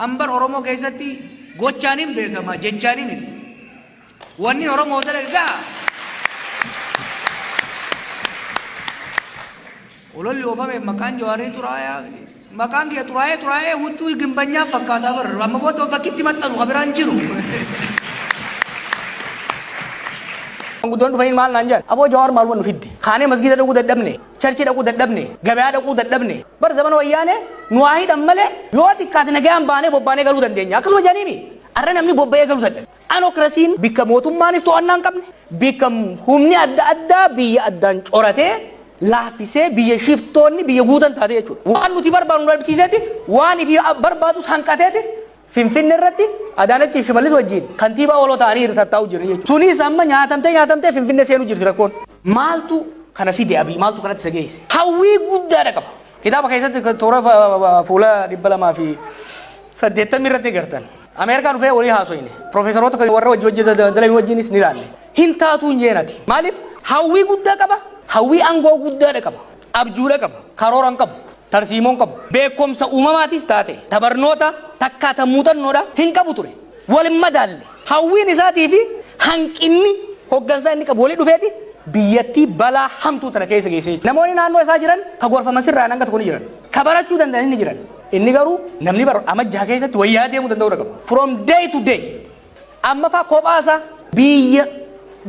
Amber Oromoo keessatti gochaan hin beekama jechaan miti. Wanni Oromoo dalage gaha. Ololli oofame maqaan jawaaree xuraayaa maqaan kiyya xuraayee xuraayee huccuu gimbanyaa fakkaataa barra amma booda bakkitti maxxanu kan biraan jiru. Guddoon dhufanii maal naan jedhan aboo jawaar maaluma nu fidde kaanee masgiida dhuguu dadhabne. Charchii dhaquu dadhabne, gabayaa dhaquu dadhabne, bar zamana wayyaanee nu haa hidhan malee yoo xiqqaate nagayaan baanee bobbaanee galuu dandeenya akkasuma jedhanii mii? Arra namni bobba'ee galuu dadhabe. Anokrasiin bikka mootummaanis to'annaa hin qabne, bikka humni adda addaa biyya addaan coratee, laaffisee, biyya shiftoonni biyya guutan taate jechuudha. Waan nuti barbaannu nu dhabsiiseeti, waan ifii barbaadus hanqateeti, Finfinne irratti Adaanachii fi Shimallis wajjiin kantiibaa waloo ta'anii hirtattaa'uu jirri jechuudha. Sunis amma nyaatamtee nyaatamtee Finfinne seenuu jirti rakkoon. Maaltu kana fide Abiy? Maaltu kanatti isa geesse? Hawwii guddaadha qaba. Kitaaba keessatti toora fuula 280 irratti gartan. Ameerikaa dhufee walii haasoyne. Piroofeesaroota kan warra wajji hojjeta daldalan wajjinis ni ilaalle. Hin taatuu hin jeenati. Maaliif? Hawwii guddaa qaba. Hawwii aangoo guddaadha qaba. Abjuudha qaba. Karoora hin qabu. tarsiimoon qabu beekkomsa uumamaatis taate ta barnoota takkaa ta muuxannoodha hin qabu ture. Wal hin madaalle. Hawwiin isaatii fi hanqinni hoggansaa inni qabu wali dhufeeti biyyattii balaa hamtuu tana keessa geessee jechuudha. Namoonni naannoo isaa jiran ka gorfaman sirraan hanga tokko ni jiran. Ka barachuu danda'an ni jiran. Inni garuu namni bara amajjaa keessatti wayyaa deemuu danda'uudha qabu. From day to day. Amma faa kophaa isaa biyya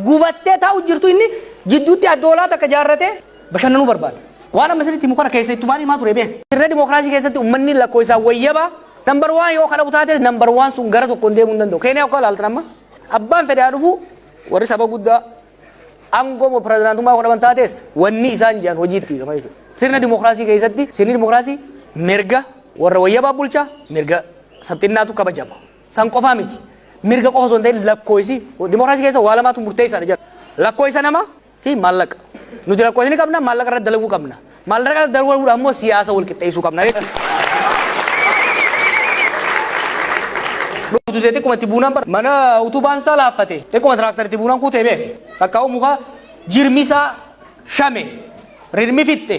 gubattee taa'u jirtu inni jidduutti addoolaa takka jaarratee bashannanuu barbaada. Waan amma isinitti himu kana keessa ittumaan himaa ture bee. Dirree dimookiraasii keessatti ummanni lakkoofsaan wayyaba nambar waan yoo kadhabu taate nambar waan sun gara tokkoon deemuu hin danda'u. Keeniyaa akka ilaaltan amma abbaan fedhaa dhufu warri saba guddaa aangoo moo pirezidaantummaa godhaman taates wanni isaan jiran hojiitti gama jechuudha. Sirna dimookiraasii keessatti sirni dimookiraasii mirga warra wayyabaa bulchaa mirga sabxinnaatu kabajama. San qofaa miti. Mirga qofa osoo hin ta'in lakkoofsi dimookiraasii keessa waa lamaatu murteessaadha jedha. Lakkoofsa namaa fi maallaqa. Nuti rakkoo ni qabna, maallaqa irratti dalaguu qabna. Maallaqa irratti dalaguudhaan immoo siyaasa wal qixxeessuu qabna jechuudha. Dhugdutee xiqquma itti buunaan bara mana utubaan isaa laaffate xiqquma tiraaktar itti buunaan kuutee beeke. Takkaa'uu muka jirmi isaa shame. Rirmi fixxe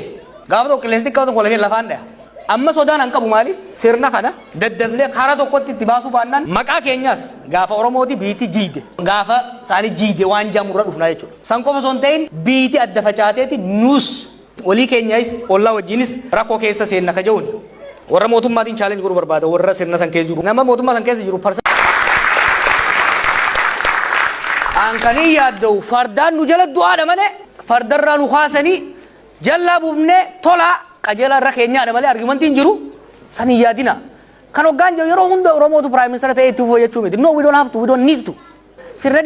gaafa tokko qilleensi xiqqaa tokko lafee lafaan dhaya. Amma sodaan an qabu maali? Sirna kana daddafnee karaa tokkotti itti baasuu baannaan maqaa keenyaas gaafa Oromooti biitti jiide gaafa isaanii jiide waan jaamu irra dhufnaa jechuudha. San qofa osoo hin ta'in biitti adda facaateeti nuus olii keenyayis ollaa wajjinis rakkoo keessa seenna ka jehuun warra mootummaatiin chaalenji godhuu barbaada warra sirna san keessa jiru nama mootummaa san keessa jiru parsa An kan hin yaadda'u fardaan nu jala du'aadha malee fardarraa nu kaasanii jallaa buufnee tolaa qajeelaa irra keenyaadha malee argumentiin jiru san hin yaadina. Kan hoggaan jiru yeroo hunda Oromootu Prime Minister ta'ee itti fufuu jechuu miti. No, we don't have to, we don't need to. Sirna